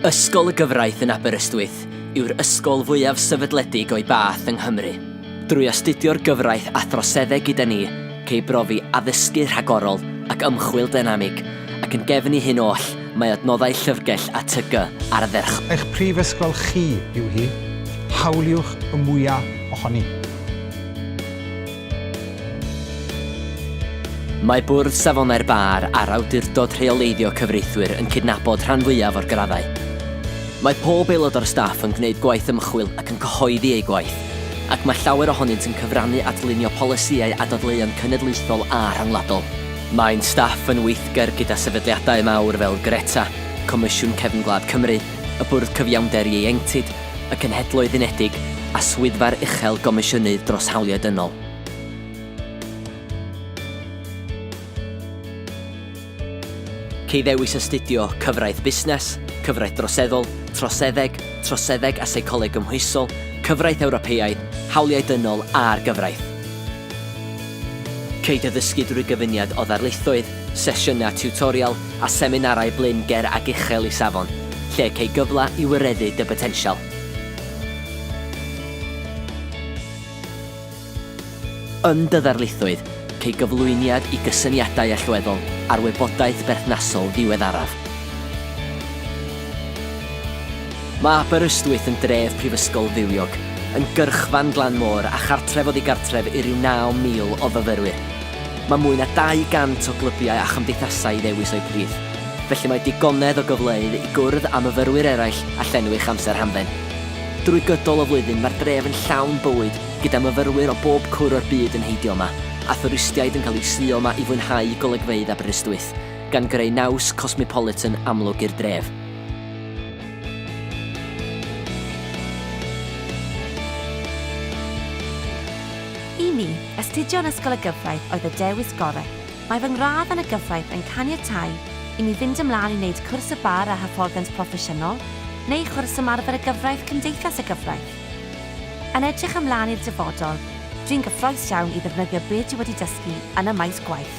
Ysgol y Gyfraith yn Aberystwyth yw'r ysgol fwyaf sefydledig o'i bath yng Nghymru. Drwy astudio'r gyfraith a throseddeg gyda ni, cei brofi addysgu rhagorol ac ymchwil dynamig, ac yn gefn i hyn oll, mae adnoddau llyfrgell a TG ar ddyrch. Eich prifysgol chi yw hi, hawliwch y mwya' ohoni. Mae Bwrdd Safonau'r Bar a'r Awdurdod Rheoleiddio Cyfreithwyr yn cydnabod rhan fwyaf o'r graddau. Mae pob aelod o'r staff yn gwneud gwaith ymchwil ac yn cyhoeddi eu gwaith, ac mae llawer ohonynt yn cyfrannu at lunio polisïau a dadleuon cenedlaethol a rhyngwladol. Mae'n staff yn weithgar gyda sefydliadau mawr fel Greta, Comisiwn Cefn Gwlad Cymru, y Bwrdd Cyfiawnder Ieuenctid y Cenhedloedd Unedig a Swyddfa'r Uchel Gomisiynydd dros Hawliau Dynol. Cei ddewis astudio Cyfraith Busnes, Cyfraith Droseddol, Troseddeg, Troseddeg a Seicoleg Gymhwysol, Cyfraith Ewropeaidd, Hawliau Dynol a'r Gyfraith. Cei dy ddysgu drwy gyfuniad o ddarlithoedd, sesiynau tiwtorial a seminarau blin ger ac uchel i safon, lle cei gyfle i wireddu dy botensial. Yn dy ddarlithoedd, cei gyflwyniad i gysyniadau allweddol a'r wybodaeth berthnasol ddiweddaraf. Mae Aberystwyth yn dref prifysgol fywiog, yn gyrchfan glan môr a chartref oddi gartref i ryw 9,000 o fyfyrwyr. Mae mwy na 200 o glybiau a chymdeithasau i ddewis o'u plith, felly mae digonedd o gyfleoedd i gwrdd â myfyrwyr eraill a llenwi'ch amser hamdden. Drwy gydol y flwyddyn mae'r dref yn llawn bywyd gyda myfyrwyr o bob cwr o'r byd yn heidio yma, a thwristiaid yn cael eu suo yma i fwynhau golygfeydd Aberystwyth, gan greu naws cosmopolitan amlwg i'r dref. I mi, Astudio yn Ysgol y Gyfraith oedd y dewis gorau. Mae fy ngradd yn y gyfraith yn caniatáu i mi fynd ymlaen i wneud cwrs y Bar a Hyfforddiant Proffesiynol neu chwrs Ymarfer y Gyfraith Cymdeithas y Gyfraith. Yn edrych ymlaen i'r dyfodol, dwi'n gyffrous iawn i ddefnyddio be dwi wedi dysgu yn y maes gwaith.